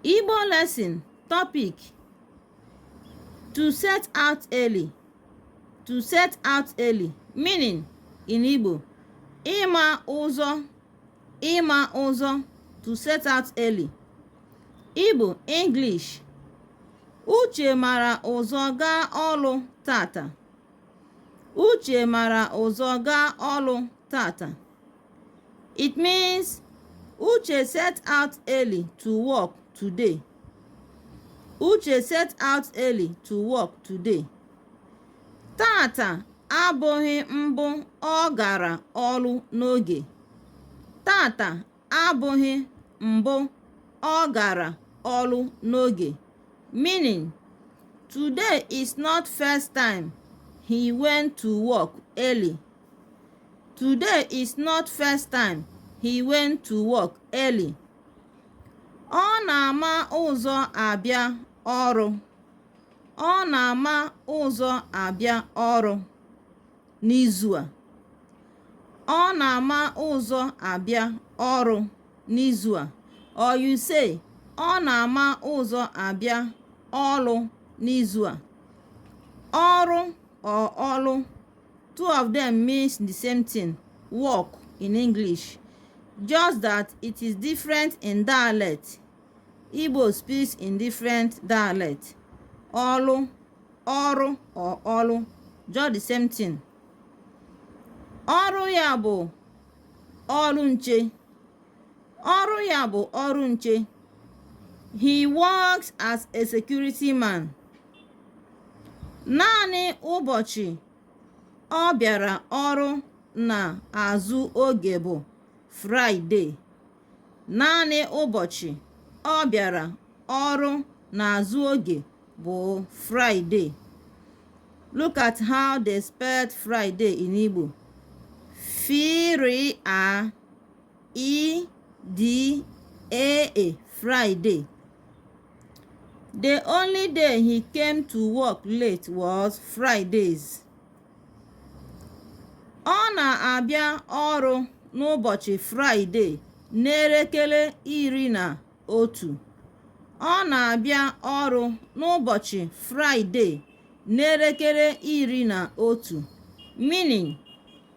Igbo lesson topic to set out early to set out early meaning in Igbo ịma ụzọ ịma ụzọ to set out early Igbo English Uche mara ụzọ gaa ọlụ tata Uche mara ụzọ gaa ọlụ tata It means Uche set out early to work today. Uche set out early to work today. Tata abụghị mbụ ọ gara ọlụ n'oge. Tata abụghị mbụ ọ gara ọlụ n'oge. Meaning, today is not first time he went to work early Today is not first time he went to work early. Ọ na-ama ụzọ abịa ọrụ. Ọ na-ama ụzọ abịa ọrụ n'izu a. Ọ na-ama ụzọ abịa ọrụ n'izu a. Or you say, ọ na-ama ụzọ abịa ọrụ n'izu a. Ọrụ or ọlụ Two of them means the same thing, work in English, just that it is different in dialect. Igbo speaks in different dialect. Ọlụ, ọrụ or ọlụ, just the same thing. Ọrụ ya bụ ọrụ nche. Ọrụ ya bụ ọrụ nche. He works as a security man. Naanị ụbọchị ọ bịara ọrụ n'azụ oge bụ Fraịdee. Naanị ụbọchị ọ bịara ọrụ n'azụ oge bụ Fraịdee. Look at how they spelled Friday in Igbo. F R A Ị D E E Friday The only day he came to work late was Fridays. Ọ na-abịa ọrụ n'ụbọchị Fraịdee n'elekere iri na otu. Ọ na-abịa ọrụ n'ụbọchị Fraịdee n'elekere iri na otu. Meaning